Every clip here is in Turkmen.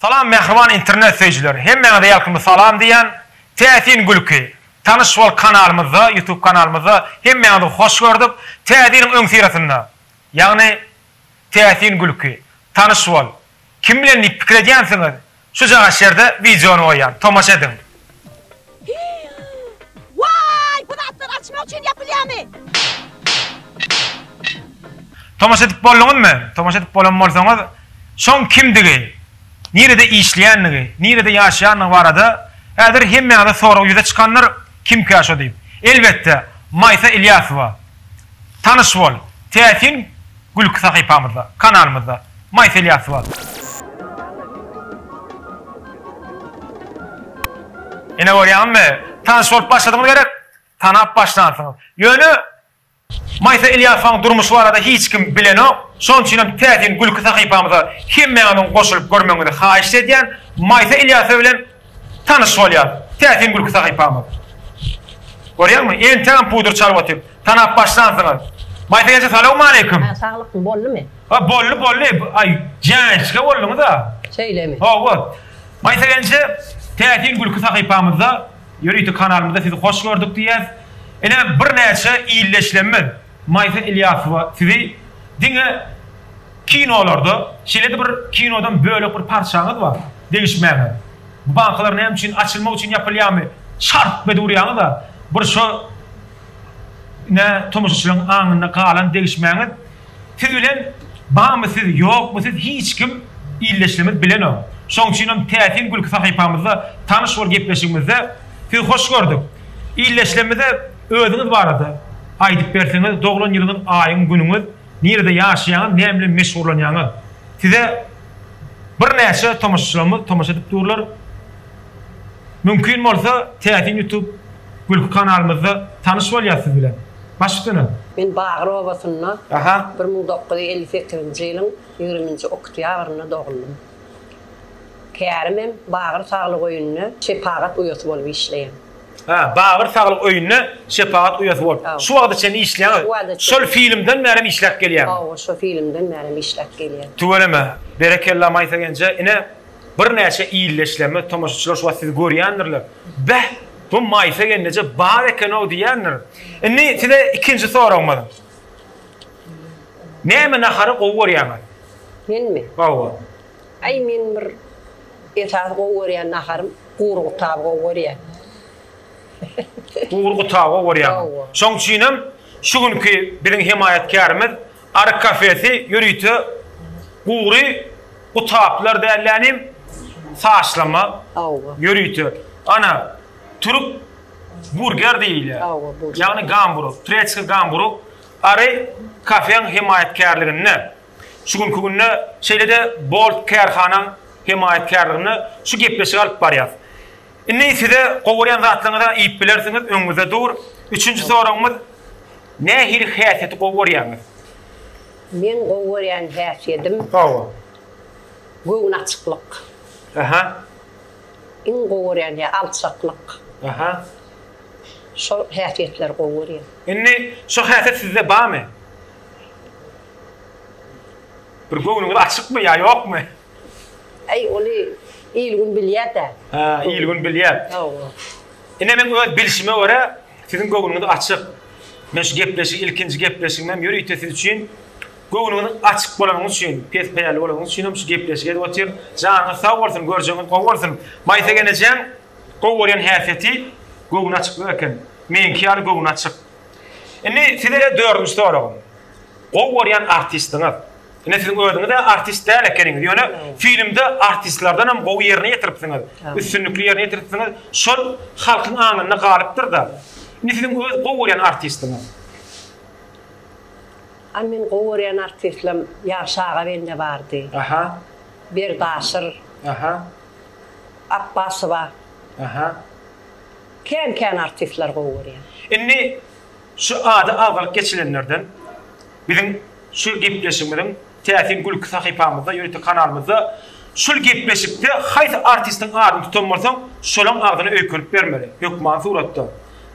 Salam mähriban internet söýüjiler. Hemmäňize ýalkymly salam diýýän. Täsin gülki. Tanyş bol kanalymyzda, YouTube kanalymyzda hemmäňizi hoş gördük. Täze ýylyň öňüsyrasynda, ýagny Täsin gülki. Tanyş bol. Kim bilen diýip pikir edýänsiňiz? Şujagaç ýerde wideony goýýan. Tomaşa ediň. Waý, bu zatlar açmak üçin ýapylýamy? Tomaşa edip bolduňyzmy? Tomaşa edip bolan bolsaňyz, şoň kimdigi, nirede işleýändigi, nirede ýaşaýandygy barada häzir hemmäňize sorag ýüze çykandyr, kimkä şo diýip. Elbetde, Maýsa Ilýasowa. Tanyş bol täsin gülki sahypamyzda, kanalymyzda. Maýsel Ýasyba. Ine görýäňizmi? Tanyş bolup başladyňyz gerek, tanap başlansyňyz. Ýöne Maýsa Ilýasowaň durmuşy barada hiç kim bilenok. Şonuň üçin hem täsin gülki sahypamyza hemmäňiziň goşulyp görmegiňizi haýyşt edýän. Maýsa Ilýasowa bilen Tanyş bolýar täsin gülki sahypamyz. Görýäňmi, entegem pudur çarwaty tanap başlansyňyz. Maýsa eje salawmaleýkim. Hä saglykmy boldumy. Ha boldy boldy aý jänçge bolduňyza. Şeýlemi. Hawa. Maýsa gelnje täsin gülki sahypamyzda ýörite kanalymyzda sizi hoş gördük diýýäs. Ine birnäçe ildeşlemmiz. Maýsa Ilýasowa sizi diňe kinolarda şeýlede bir kinodan bölek bir parçaňyz bar degişmäňiz bu bankalar näme üçin açylmak üçin ýapylýamy şarp edip urýaňyza bir şo nä tomaşaçylaň aňynda galan degişmäňiz siz bilen bamy siz ýokmy siz hiç kim ildeşlerimiz bilenok şoň üçinem täsin gülki sahypamyzda tanyş bol gepleşigimizde sizi hoş gördük ildeşlerimize Özüňiz barada aýdyp berseňiz doglan ýylyňyz aýyň günüňiz nirede ýaşaýaňyz näme bilen meşgurlanýaňyz size bir näçe tomaşaçylarymyz tomaşa edip durlar mümkin bolsa täsin ýutub gülki kanalymyzda tanyş bolýas siz bilen başgtuna. Men Bagyr obasynda bir müň dokuz ýüz elli sekizinji ýylyň ýigriminji oktýabrynda dogluldym. Kärimem Bagyr saglyk öýünde şepagat uýasy bolup işleýän. Hä, Bagyr saglyk öýünde şepagat uýasy bolup, şu wagta çenli işleýäňiz. Şol filmden bärem işläp gelýäňiz. Hawa, şo filmden bärem işläp gelýän. Tüweleme. Berekella Maýsa genje. Ine, birnäçe ilde işlemez, tomaşaçylar şu wagt sizi görýändirler. Beh, bu Maýsa genneje bar eken-ow diýendir. Indi size ikinji soragymyz. Näme nahary gowy görýäňiz? Menmi? Hawa. Aý men bir esasy gowy görýän naharym gury gutaby gowy görýän. Gury gutaby gowy görýäňiz. Şoň üçinem şu günki biziň hemaýatkärimiz Aryk kafesi ýörite gury gutaplar dälde nim saçlama ýörite ana türk burger diýilýär. Ýagny gamburg, turetski gamburg Ary kafeň hemaýatkärliginde. Şu günki günde şeýle-de Bolt kärhanaň hemaýatkärliginde şu gepleşigi alyp barýas. Indi size gowarýan zatlaryňyza iýip bilersiňiz, öňüňizde dur. Üçünji soragymyz, nähili häsiýeti gowy görýäňiz? Meň gowy görýän häsiýedim. Hawa. Göwün açyklyk. Aha. Iň gowy görýän ýa alçaklyk. Aha. Şol häsiýetleri gowy görýän. Indi şu häsiýet sizde barmy? Bir göwnüňiz açykmy ýa ýokmy? Aý, ony il-gün bilýär-dä. Hä, il-gün bilýär. Hawa. Ine, meň öz bilşime görä, siziň göwnüňiz açyk. Men şu gepleşigi, ilkinji gepleşigimem ýörite siz üçin, göwnüňiz açyk bolanyňyz üçin, pes peýälli bolanyňyz üçinem şu gepleşigi edip otyryn. Janyňyz sag bolsun, görjegiňiz gowy bolsun. Maýsa enejäň gowy görýän häsiýeti göwnaçyklyk eken. Meňki ýaly göwnaçyk. Indi size dördünji soragym. Gowy görýän artistiňiz. Ine siz özüňizä artist däl ekeniňiz ýöne filmde artistlerdenem gowy ýerine ýetiripsiňiz. Üstünlikli ýerine ýetiripsiňiz. Şol halkyň aňynda galypdyrda. Indi siziň öz gowy görýän artistiňiz. Ay men gowy görýän artistlem ýagşy aga bende bardy. Aha. Berdaşyr. Aha. Apbasowa. Aha. Kän kän artistler gowy görýän. Indi Şu ady agzalyp geçilenlerden biziň şu gepleşigimiziň täsin gülki sahypamyzda, ýörite kanalymyzda şul gepleşikde haýsy artistiň adyny tutan bolsaň, şolaň agzyna öýkenip bermeli, hökmany suratda.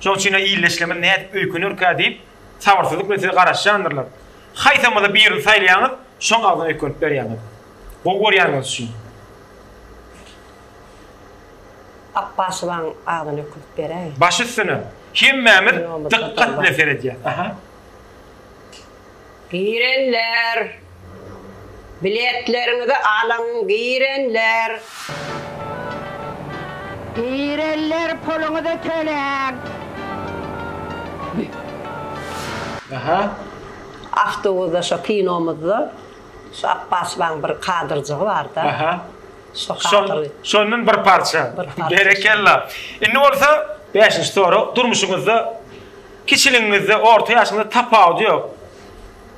Şoň üçin-ä ildeşlerimiz nädip öýkenerkä diýip, sabyrsyzlyk bilen size garaşýandyrlar. Haýsamyzy birini saýlaýaňyz, şoň agzyna öýkenip berýäňiz. Gowy görýändigiňiz üçin. Akbaşybaň adyny ökülip beräý. Baş üstüne. Hemmämiz dykgat bilen seredýäs. Aha. Girenler. Biletleriňizi alyň girenler. Girenler puluňyzy töläň. Aha. Awtobusda şo kinomyzda şu Akbaşybaň bir kadrjygy barda. Aha. Şondan bir parça. Berekella. Indi bolsa 5-nji sorag. Durmuşyňyzda kiçiligiňizde, orta ýaşyňyzda tapawudy ýok.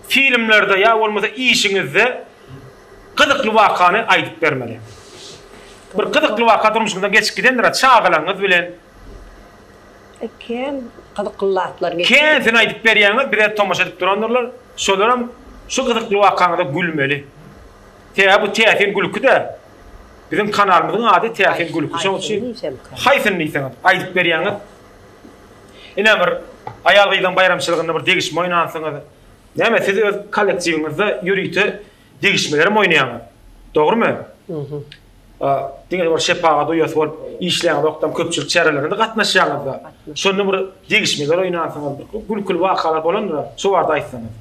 Filmlerde ýa bolmasa işiňizde gyzykly wakany aýdyp bermeli. Bir gyzykly waka durmuşyňyzdan geçip gidendir, çagalaryňyz bilen. Kän gyzykly zatlar geçdi. Käsini aýdyp berýäňiz, bize tomaşa edip durandyrlar. Şolaram şu gyzykly wakaňyza gülmeli. Tä bu täsin gülki-dä. Biziň kanalymyzyň ady Täsin gülki. Şoň üçin haýsyny diýseňiz, aýdyp berýäňiz. Ine bir aýal-gyzyň baýramçylygynda bir degişme oýnansyňyz. Näme siz öz kollektiwiňizde ýörite degişmelerem oýnaýaňyz. Dogrumy? Mhm. A, diňe bir şepagat uýasy bolup işleýäňizokdam, köpçülik çärelerine-de gatnaşýaňyz-da. Şonda bir degişmeler oýnansyňyz, gülküli wakalar bolandyr-a, şo barada aýtsaňyz.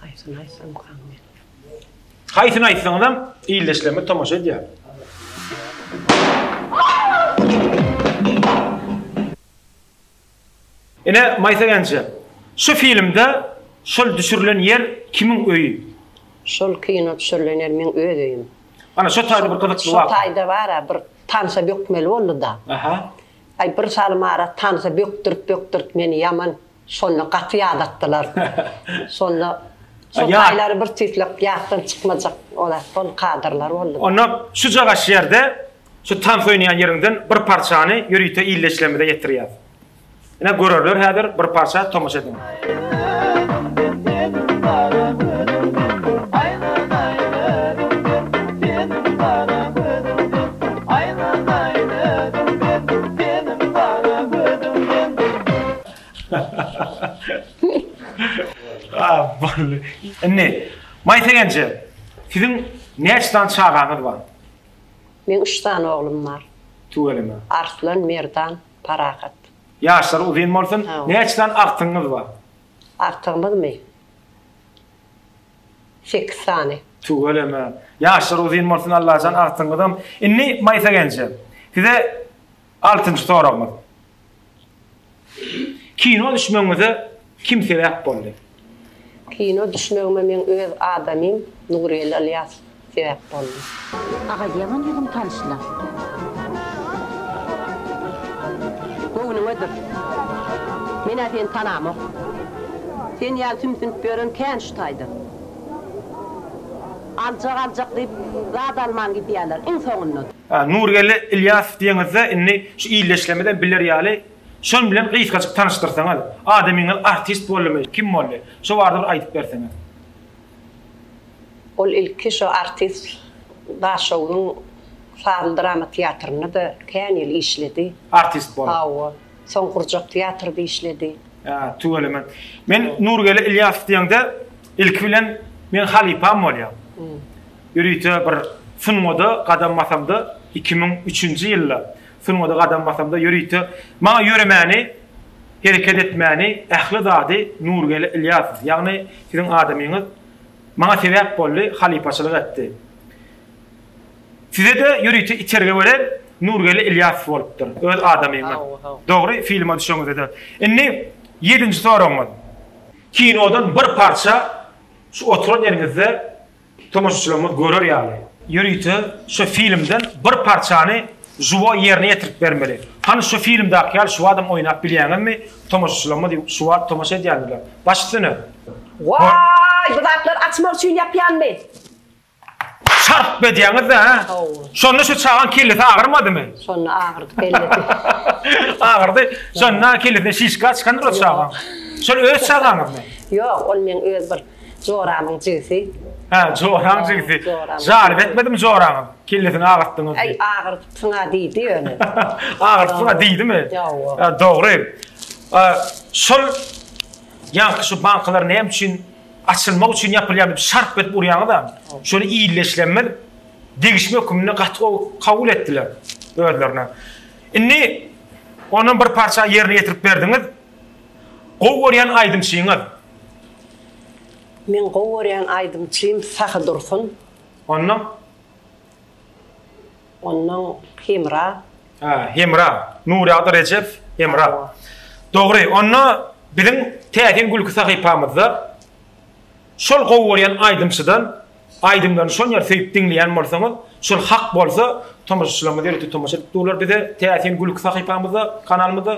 Haýsyny aýtsamkam men? Haýsyny aýtsaňyzam, ildeşlerimiz tomaşa edýär. Ine, Maýsa Genje, şu filmde şol düşürilen ýer kimiň öýi? Şol kino düşürilen ýer meň öz öýüm. Ana, şo taýda bir gyzykly waka. Şo taýda bar-a, bir tanşa bökmeli boldy-da. Aha. Aý bir salym ara tansa bökdürip bökdürip meni ýaman şonda gaty ýadatdylar şonda şo taýlary bir tüýslek ýatdan çykmajak olar şol kadrlar boldy. Onda şuja gaş ýerde şu tans oýnaýan ýeriňden bir parçany ýörite illeşlemize ýetirýäs. Ine görerler häzir bir parça tomaşa ediň. Indi Maýsa gelje, siziň näçe sany çagaňyz bar? Meň üç sany oglum bar. Tüweleme. Arslan, Merdan. Parahat. Ýaşlary uzyn bolsun. Näçe sany agtygyňyz bar? Agtygymyzmy? Sekiz sany. Tüweleme. Ýaşlary uzyn bolsun Allajan agtygyňyzam. Indi Maýsa gelnje. Size altynjy soragymyz. Kino düşmegiňize kim sebäp boldy? Kino düşmegime meň öz adamym Nurgeldi Ylýasow sebäp boldy. Agaz ýaman ýüzüň tanyşla. Göwnüňe dur. Men-ä seni tanamok. Sen ýaly sümsünip ýören kän şu taýda. Aljak aljak diýip zat alman gidýärler. Iň soňunda. Nurgeldi Ylýasow diýeňizde indi şu ildeşlerimiz hem biler ýaly Şol bilen gysgajyk tanyşdyrsaňyz. Adamyňyz artist boldumy, kim boldy? Şo barada bir aýdyp berseňiz. Ol ilki şo artist Daşoguzyň sazly drama teatrynda-da kän ýyl işledi. Artist bolup. Hawa. Soň gurjak teatrda işledi. Ýa, tüweleme. Men Nurgeldi Ilýasow diýeňde, ilki bilen meň halypam bolýar. Ýörite bir sungat-a gadam basamda, iki müň üçünji ýylda Sungada gadam basamda ýörite maňa ýöremäni, hereket etmäni, ähli zady Nurgeldi Ylýasow, ýagny siziň adamyňyz maňa sebäp boldy, halypaçylyk etdi. Size-de ýörite itergi beren Nurgeldi Ylýasow bolupdyr, öz adamyňyz. Dogry, filma düşeňizde-de. Indi ýedinji soragyňyz. Kinodan bir parça şu oturan ýeriňizde Tomaşaçylarymyz görer ýaly. Ýörite şo filmden bir parçany žuwo ýerine ýetirip bermeli. Hany şo filmdäki ýaly şuwadam oýnap bilýäňizmi? Tomaşaçylarymyz şuwat tomaşa edýändirler. Baş üstüne! Waý, bu zatlar açmak üçin ýapýanmy? Şarp edýäňiz-dä, hä? Hawa. Şonda şo çagaň kellesi agyrmadymy? Şonda agyrdy kellesi. Agyrdy. Şonda kellesine şişka çykandyr o çagaň. Şol öz çagaňyzmy? Ýok, ol meň öz bir Joraňyň jigisi. Hä, joraň jigisi. Jaryp etmedimi joraňyz? Kellesini agyrtdyňyz diýip. Äý, agyrtdyň-a diýdi ýöne. Agyrtdyň-a diýdimi? Ýa-a. Dogry. Şol ýaňky şu bankalar näme üçin açylmak üçin ýapylýar diýip şarp edip urýaňyz-a. Şony illeşlemez degişme höküminde gaty gowy kabul etdiler özlerine. Indi ondan bir parça ýerine ýetirip berdiňiz. Gowy görýän aýdymçyňyz? Meň gowy görýän aýdymçym Sahy Dursun. Ondan? Ondan Hemra. Hä, Hemra. Nurýagdy Rejep, Hemra. Dogry. Onda biziň Täsin gülki sahypamyzda şol gowy görýän aýdymçydan aýdymlaryny şon ýer söýüp diňleýän bolsaňyz, şol hak bolsa tomaşaçylarymyz ýörite tomaşa edip durlar bize Täsin gülki sahypamyzda, kanalymyzda.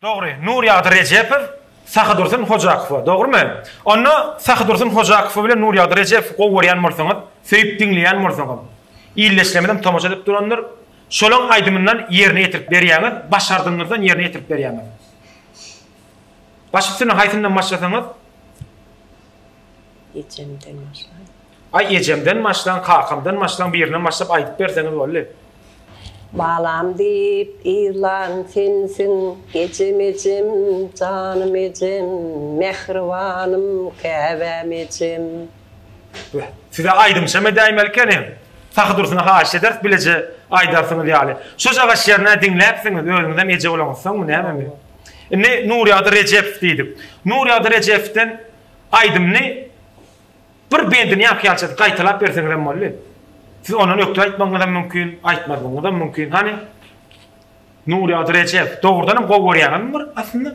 Dogry, Nurýagdy Rejepow Sahydursun Hojakowa, dogrumy? Onda Sahydursun Hojakowa bilen Nurýagdy Rejepowy gowy görýän bolsaňyz, söýüp diňleýän bolsaňyz, ildeşlerimizem tomaşa edip durandyr, şolaň aýdymyndan ýerine ýetirip berýäňiz, başardygyňyzdan ýerine ýetirip berýäňiz. Baş üstüne haýsyndan başlasaňyz. Ejemden başlan. Aý ejemden başlan kakamdan başlan birinden başlap aýdyp berseňiz bolly. Balam diýip ýyglan sensiň ejem ejem janym ejem mähribanym käbäm ejem. Beh size aýdymçam edäýmeli ekeniň Sahydursyna haýyş ederis bileje aýdarsyňyz ýaly şojagaz şernä diňläpsiňiz özüňizem eje bolanyňyzsoňmy nämemi indi Nurýagdy Rejepow diýdik Nurýagdy Rejepowden Aýdymny bir bendini ýaňkyýalça gaýtalap berseňizem boldy. Siz ondan ökde aýtmagyňyzam mümkin, aýtmazlygyňyzam mümkin. Hany, Nurýagdy Rejep, dogrudanam gowy görýäňizmi bir aslynda?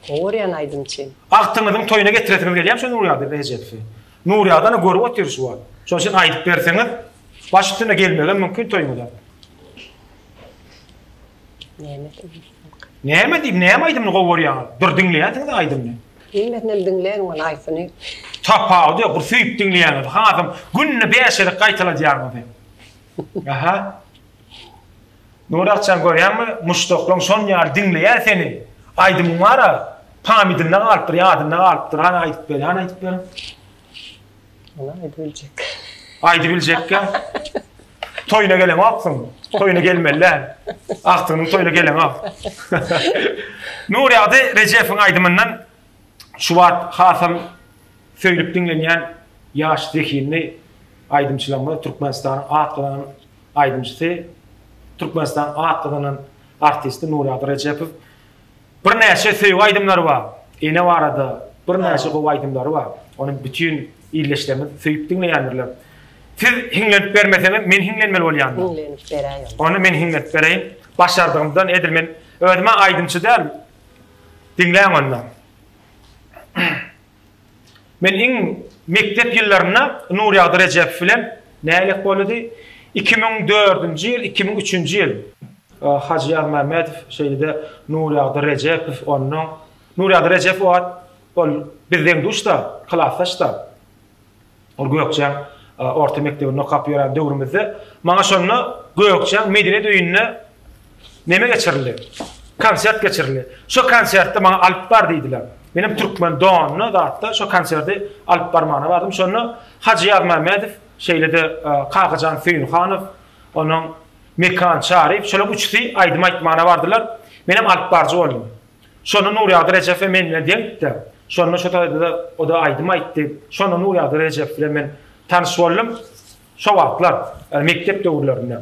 Gowy görýän aýdymçy. Agtyňyzyň toýuna getiresiňiz gelýärmi şu Nurýagdy Rejepowy? Nurýagdy ana görüp otyr şu wagt. Şonuň üçin aýdyp berseňiz, baş üstüne gelmegem mümkin toýuňyza. Näme diýip? Näme diýip, näme aýdymyny gowy görýäňiz? Bir diňleýänsiňiz-ä aýdymyny. Hemmesinem diňleýän ol aýsyny. Tapawudy ýok, bir söýüp diňleýäňiz, hasam günde bäş gezek gaýtaladýaňyzy. Aha. Nurakjan görýäňmi, muşdaklaň şon ýaly diňleýär seni. Aýdymyň bar-a, pamýdynda galypdyr, ýadynda galypdyr. Hany aýdyp ber, hany aýdyp ber. Ýene aýdy biljek. Aýdy biljekkä. Toýuna gelen aksyň. Toýuna gelmeli. Aksyň toýuna gelen ak. Nurýady Rejepiň aýdymyndan şu wagt hasam söýlüp diňlenýän ýaş zehinli aýdymçylarymyz Türkmenistanyň at gazanan aýdymçysy Türkmenistanyň at gazanan artisti Nurýady Rejepow. Birnäçe söýgi aýdymlary bar. Ene barada birnäçe gowy aýdymlary bar. Ony bütin ildeşlerimiz söýüp diňleýändirler. Siz hiňlenip bermeseňiz, men hiňlenmeli bolýan. Hiňlenip beräý onda. Onda men hiňlenip bereýin. Başardygymdan edil men özüm-ä aýdymçy däl. Diňläň onda. Men iň mekdep ýyllarynda Nurýagdy Rejebow bilen nälet bolady. Iki müň dördünji ýyl, iki müň üçünji ýyl. Hajy Ýazmämmedow, şeýle-de Nurýagdy Rejebow onnoň. Nurýagdy Rejebow o wagt ol biz deň-duş-da, klasdaş-da. Ol Gökjeň orta mekdebinde okap ýören döwrümizde maňa şonda Gökjeň medeniýet öýünde neme geçirildi? Konsert geçirildi. Şo konsertde maňa alyp bar diýdiler. Menem türkmen donly zatda şo konserti alyp barmagyna bardym. Şonda Hajy Ýazmämmedow, şeýle-de Kakajan Söýünhanow, onuň Mekan Çaryýew, şolaryň üçüsi aýdym aýtmagyna bardylar. Menem alypbaryjy boldum. Şonda Nurýagdy Rejep we men bilen deňdi-de, şonda şo taýda-da o-da aýdym aýtdy. Şonda Nurýagdy Rejep bilen men tanyş boldum. Şo wagtlar, ýagny mekdep döwürlerinde.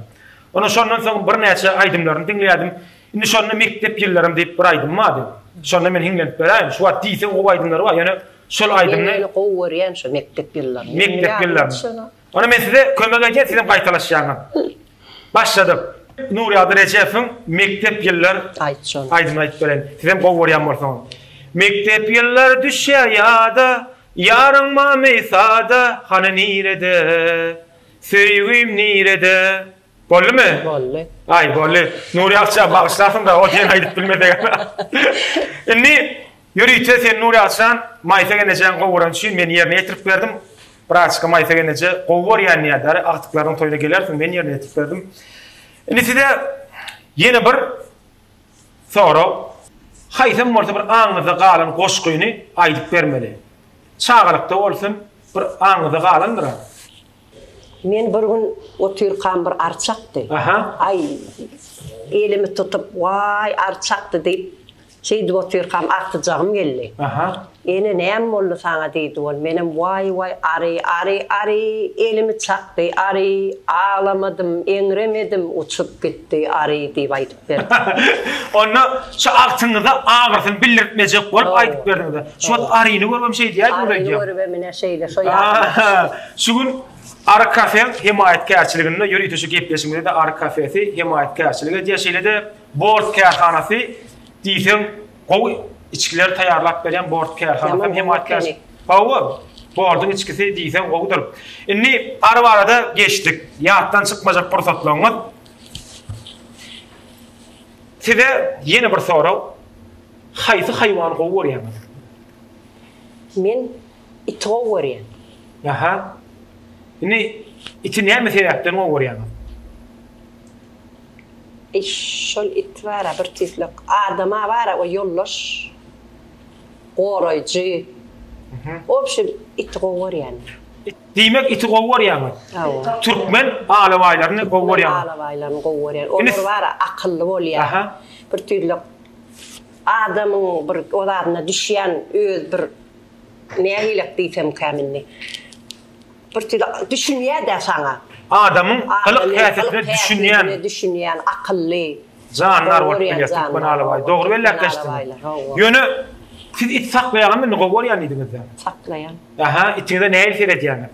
Ondan şondan soň birnäçe aýdymlaryny diňleýärdim. Indi şonda Mekdep ýyllarym diýip bir aýdymy bardy. Şonda men hiňlenip beräýin. Şu wagt diýseň gowy aýdymlary bar. Ýöne şol aýdymny. Men gowy görýän şo Mekdep ýyllaryny. Mekdep ýyllaryny. Onda men size kömek edýän sizem gaýtalaşýaňyz. Başladyk. Nurýagdy Rejepowyň Mekdep ýyllar aýdymyny aýdyp bereýin. Sizem gowy görýän bolsaňyz. Mekdep ýyllar düşýär ýada, Ýaryň mamy sada, Hany nirede, söýgim nirede? Boldumy? Boldy. Aý, boldy. Nurýagtjan, bagyşlarsyň-da, o diýen aýdyp bilmesegem. Indi Ýörite sen Nury Açan Maýsa genejeň gowurany üçin men ýerine ýetirip berdim. Braçka Maýsa geneje gowy görýän nädäri, agtyklarynyň toýuna gelersiň, men ýerine ýetirip berdim. Indi size ýene bir sorag. Haýsam bolsa bir aňyňyzda galan goşgyny aýdyp bermeli. Çagalykda bolsun, bir aňyňyzda galandyr-a. Men bir gün otyrkam bir ar çakdy. Aý, elimi tutup, Waý, ar çakdy diýip, Şeýdip otyrkam artyjagym geldi. Aha. Ene näme boldy saňa diýdi ol. Menem waý waý ary ary ary elimi çakdy ary aglamadym eňremedim uçup gitdi ary diýip aýdyp berdim. Onda şu agtyňyza agyrysyny bildirtmejek bolup aýdyp berdiňiz-ä. Şu wagt aryny görübem şeý diýýäýdim aýdýan. Aryny görübem ine şeýle şo ýaly. Şu gün Ary kafe hemaýatkärçiliginde ýörite şu gepleşigimize-de Ary kafesi hemaýatkärçilik edýär. Şeýle-de Bort kärhanasy diýseň gowy içgiler taýýarlap berýän bort kärhanasy hem aýtýar. Hawa, bordyň içgisi diýseň gowudyr. Indi ar barada geçdik. Ýatdan çykmajak pursatlaryňyz. Size ýene bir sorag. Haýsy haýwany gowy görýäňiz? Men iti gowy görýän. Aha. Indi iti näme sebäpden gowy görýäňiz? Eý şol it bara bir tizlek adama bara o ýoldaş goraýjy obşim iti gowy görýän men. Diýmek iti gowy görýäňiz. Hawa. Türkmen alabaýlaryny gowy görýäňiz. Türkmen alabaýlaryny gowy görýän. Olar bara akylly bolýa. Aha. Bir tizlek adamyň bir o zadyna düşýän öz bir nähilek diýsemkäm indi. Bir tüýs düşünýä-dä saňa. Adamyň gylyk-häsiýetine düşünýän. Düşünýän, akylly. Jandar bolup bilýär Türkmen alabaýy. Dogry belläpleşdiňiz. Ýöne siz it saklaýaňam indi gowy görýän diýdiňiz-dä. Saklaýan. Aha, itiňize nähili seredýäňiz?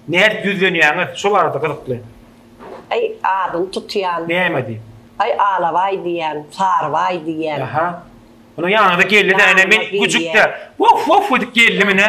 Nädip ýüzlenýäňiz? Şo barada gyzykly. Aý, adyny tutýan. Näme diýip? Aý, alabaý diýýän, sarybaý diýýän. Aha. Munuň ýanyňyza geldi-de, ine men güjük-de, Wof-wof edip geldim ine.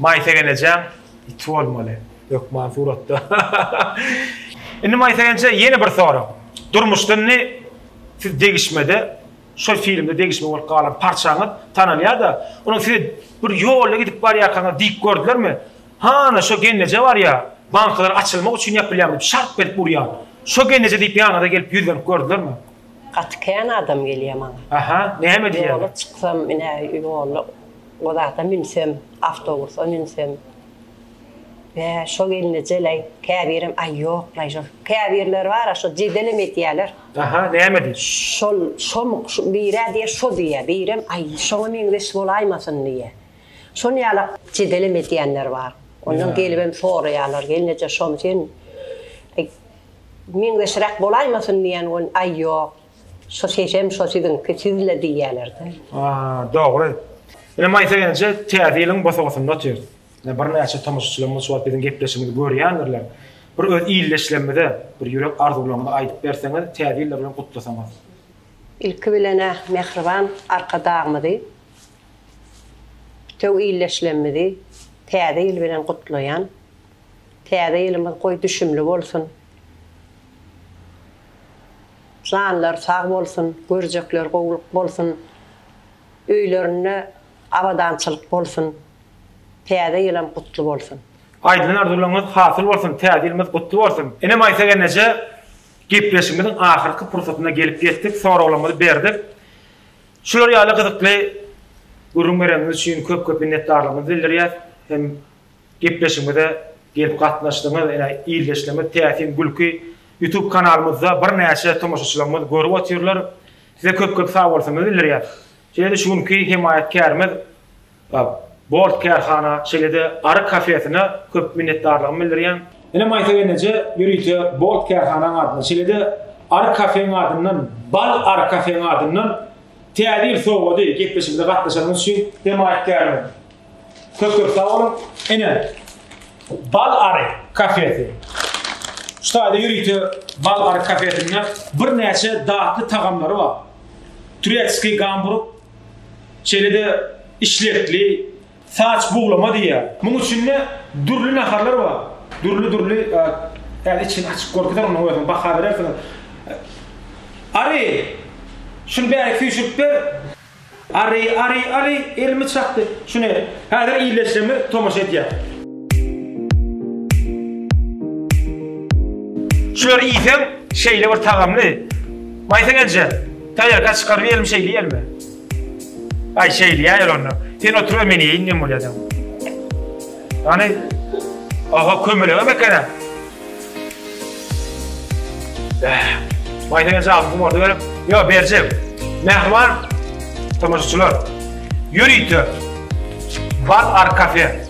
Maýsegen ejäň iti bolmaly hökman suratda. Indi Maýsa enje ýene bir sorag. Durmuşda indi siz degişmede şol filmde degişme bolup galan parçaňyz tanalýar-da, onuň size bir ýolda gidip barýarkaňyz diýip gördülermi? Hany şo genneje barýa, bankalar açylmak üçin ýapylýar diýip şarp edip urýar. Şo genneje diýip ýanyňyza gelip ýüzlenip gördülermi? Gaty kän adam gelýär maňa. Aha, näme diýýärler? Ýola çyksam, ine, ýola o zada münsem, awtobusa münsem, Bä, şo gelnejel-aý, käbirem, Aý, ýok-laý, şo. Käbirleri bar-a, şo jedelem edýärler. Aha, näme diýip? Şol, şomuk, şu, bir-ä diýýär, şo diýýär, birem, Aý, şoňa meňzeş bolaýmasyn diýýär. Şony ýala jedelem edýänler bar. Ondan gelibem soraýarlar, Gelneje, şomy sen, Meňzeşräk bolaýmasyn diýen gün, aý ýok, şu sesem şo siziňki, siz-le diýýäler-dä. A, dogry. Ine, Maýsa gelnje Täze ýylyň bosagasynda otyrys. Ine, birnäçe tomaşaçylarymyz şu wagt biziň gepleşigimizi görýändirler. Bir öz ildeşlerimize bir ýürek arzuwlaryňyzy aýdyp berseňiz, Täze ýyllar bilen gutlasaňyz. Ilki bilen-ä mähriban Arkadagymyzy, bütew ildeşlerimizi Täze ýyl bilen gutlaýan. Täze ýylymyz goý düşümli bolsun. Janlary sag bolsun, görjekleri gowulyk bolsun, öýlerinde abadançylyk bolsun, täze ýylam gutly bolsun. Aýdylan arzuwlaryňyz hasyl bolsun, täze ýylymyz gutly bolsun. Ine Maýsa gelneje gepleşigimiziň ahyrky pursatyna gelip ýetdik, soraglarymyzy berdik. Şular ýaly gyzykly gürrüň bereniniz üçin köp-köp minnetdarlygymyzy bildirýäs hem Gepleşigimize gelip gatnaşdyňyz. Ine ildeşlerimiz Täsin gülki YouTube kanalymyzda birnäçe tomaşaçylarymyz görüp otyrlar. Size köp köp sagbolsunlar bildirýän. Şeýle-de şu günki hemaýatkärimiz Bolt kärhana şeýle-de Ary kafesine köp minnetdarlygymy bildirýän. Ine Maýsa gelneje ýörite Bolt kärhanaň adyndan şeýle-de Ary kafeň adyndan Bal Ary kafeň adyndan Täze ýyl sowgady gepleşigimize gatnaşanyňyz üçin hemaýatkärimiz Köp köp sag bolun. Ene Bal Ary kafesi. Şu taýda ýörite Bal Ary kafesinde birnäçe datly tagamlary bar. Turetskiý gamburg, şeýle-de işlekli, saç buglama diýýär. Munuň içinde dürli naharlar bar. Dürli-dürli häzir içini açyp görkezer onuň özüni baha berersiňiz. Ary, şuny bärik süýşürip ber. Ary, ary, ary, elimi çakdy. Şune, häzir iýleşsemi tomaşa edýär. Şulary iýseň, şeýle bir tagamly. Maýsa gelje, taýarka çykaryp iýelim, şeýle iýelimi? Aý, şeýle iýäýeli onda. Sen otur-a, men iýeýin, nem bolýa-da. Hany, aha, kömelegem eken-ä. Bäh. Maýsana jaby gumarda görüp, ýok berjek. Mähriban tomaşaçylar, ýörite Bar Ar Kafe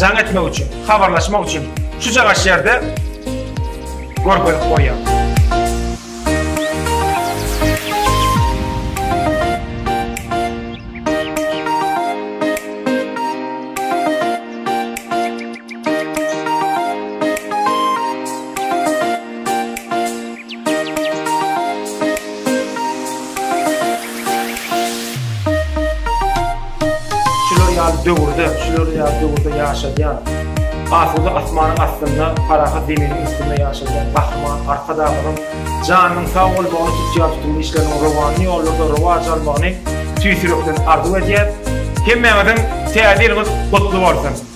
jaň etmek üçin, habarlaşmak üçin şu çagaş ýerde görkezip goýýar. Şular ýaly döwürde, şular ýaly döwürde ýaşadýan, asuda asmanyň astynda, parahat zeminiň üstünde ýaşadýan Gahryman Arkadagymyzyň janynyň sag bolmagyny, tutýan-tutumly işleriniň rowanly ýollarda rowaç almagyny tüýs ýürekden arzuw edýäris. Hemmäňiziň Täze ýylyňyz gutly bolsun!